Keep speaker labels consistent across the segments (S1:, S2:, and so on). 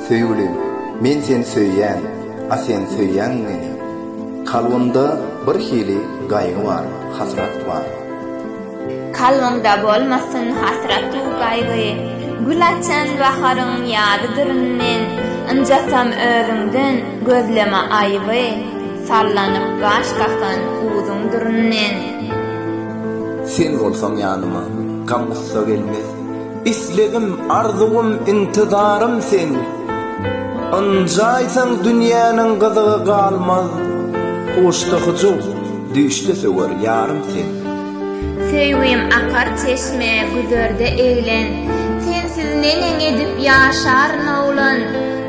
S1: Söýgülim, men seni söýýän, a sen söýýäňmi meni? Kalbymda bir hili gaýgy bar, hasrat bar. Kalbymda bolmasyn hasrat-u gaýgy, gül açan baharyň ýadydyryn men. Ynjasam özüňden, gözleme aýyby, sallanyp gaş kakan uzuňdyryn men. Sen bolsaň ýanyma, gam-gussa gelmez. Islegim, arzuwym, intizarym sen. Ynjaýsaň dünýäniň gyzygy galmaz. Huşda hyjuw, düýşde söwer ýarym sen. Söýgim akar çeşme, güzerde eglen. Sensiz neneň edip ýaşaryn oglan.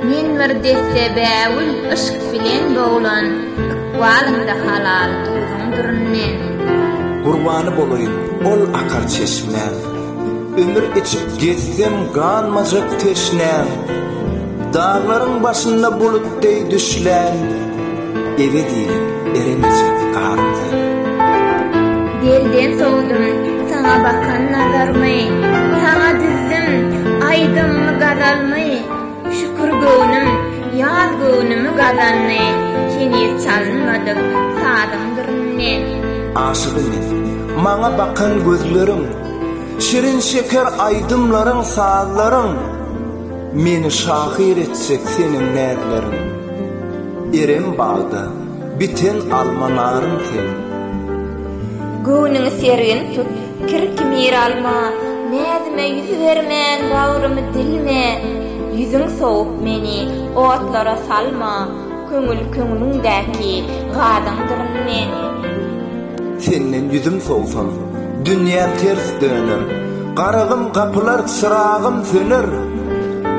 S1: Men bir desse bägül, yşk bilen boglan. Ykbalyňda halal, duzuň durun men. Gurbany bolaýyn ol akar çeşmä. Ümür içip gezsem ganmajak teşnäm, Daglaryň başynda bulut deý düşläm, Ebedi eremejek garym sen. Gelden sowdum saňa bakan nazarmy, Saňa düzdüm aýdymmy gazalmy, Şükür göwnüm ýaz göwnümi gazandy, Heniz çalynmadyk sazyň dyryn men. Aşygy men, maňa bakan gözleriň, Şirin şeker aýdymlaryň sazlaryň Meni şahyr etjek seniň näzleriň Eren bagda biten alma narym sen Göwnüňi sergin tut, kir kimir alma, Näzime ýüz bermän bagrymy dilme, Ýüzüň sowup meni otlara salma, Köňül köňlüňdäki gazyňdyryn men. Senden ýüzüm sowsam, dünýäm ters döner, Garazym gapylar, çyragym söner.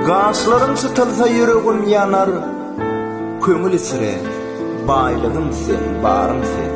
S1: Gaşlarym çytylsa, ýüregim ýanar, Köňül içre, baýlygym sen, barym sen.